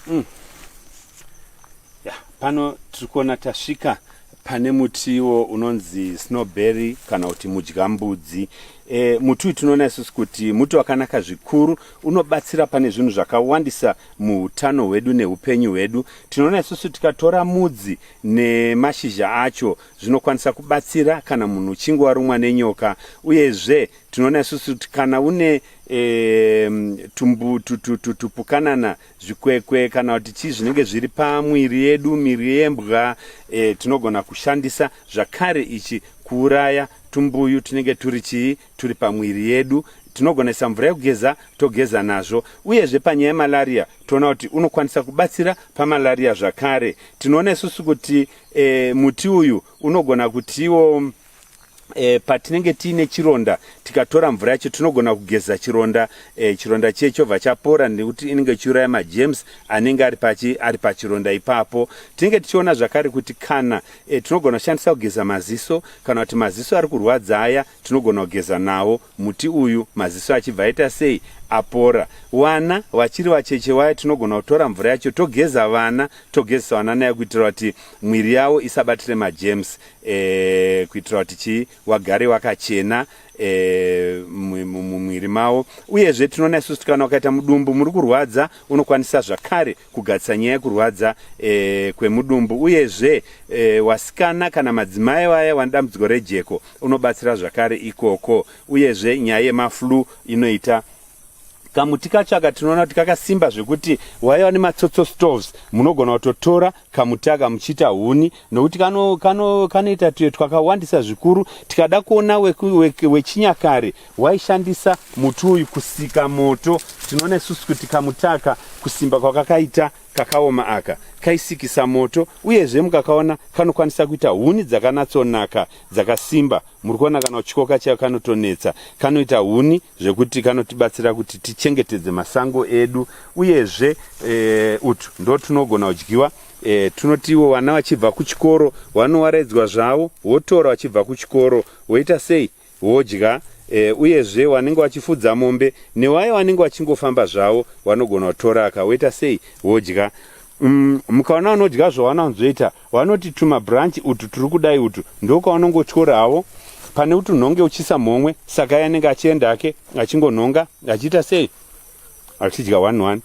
Mm. Ya, pano tiri kuona tasvika pane mutiwo unonzi snowberry kana kuti mudyambudzi e, muti uyu tinoona isusu kuti muti wakanaka zvikuru unobatsira pane zvinhu zvakawandisa muutano hwedu neupenyu hwedu tinoona isusu tikatora mudzi nemashizha acho zvinokwanisa kubatsira kana munhu uchinge warumwa nenyoka uyezve tinoona isusu kuti kana une e, tumbu tupukanana zvikwekwe kana kuti chii zvinenge zviri pamwiri yedu miri yembwa e, tinogona kushandisa zvakare ichi kuuraya tumbuyu tunenge turi chii turi pamwiri yedu tinogonesa mvura yekugeza togeza nazvo uyezve panyaya yemalaria toona kuti unokwanisa kubatsira pamalaria zvakare tinoona isusu kuti e, muti uyu unogona kutiwo E, patinenge tiine chironda tikatora mvura yacho tinogona kugeza chironda e, chironda chiye chobva chapora nekuti inenge ichiuraya majems anenge ari pachi ari pachironda ipapo tinenge tichiona zvakare kuti kana e, tinogona kushandisa kugeza maziso kana kuti maziso ari kurwadza aya tinogona kugeza nawo muti uyu maziso achibva aita sei apora wana vachiri vacheche waya tinogona kutora mvura yacho togeza vana togezesa vana nayo kuitira kuti mwiri yavo isabatire majems e, kuitira kuti chii wagare wakachena e, mumwiri mavo uyezve tinoona isusu kuti kana ukaita mudumbu muri kurwadza unokwanisa zvakare kugadzisa nyaya yekurwadza e, kwemudumbu uyezve e, wasikana kana madzimai vaya vane dambudziko rejeko unobatsira zvakare ikoko uyezve nyaya yemaflu inoita kamuti kacho aka tinoona kuti kakasimba zvekuti waiva nematsotso stoves munogona kutotora kamuti aka muchiita huni nokuti kanoita kano, kano tuye twakawandisa zvikuru tikada kuona wechinyakare we, we waishandisa muti uyu kusika moto tinoona isusu kuti kamuti aka kusimba kwakakaita kakaoma aka kaisikisa moto uyezve mukakaona kanokwanisa kuita huni dzakanatsonaka dzakasimba muri kuona kana uchikoka chayo kanotonetsa kanoita huni zvekuti kanotibatsira kuti tichengetedze masango edu uyezve e, utu ndo tunogona kudyiwa e, tunotiwo vana vachibva kuchikoro vanowaraidzwa zvavo wotora vachibva kuchikoro woita sei wodya e, uyezve vanenge vachifudza mombe newaye vanenge vachingofamba zvavo vanogona kutoraka woita sei wodya Umm mukaona unodya zvawana unzoita vanoti tuma branch utu turi kudai utu ndokwaunongotyora havo pane kuti unhonge uchisa mhomwe saka iye anenge achienda hake achingonhonga achiita sei achidya one one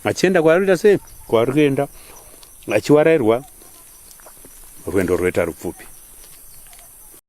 achienda kwaari kuita sei kwaari kuenda achiwarairwa rwendo rwoita rupfupi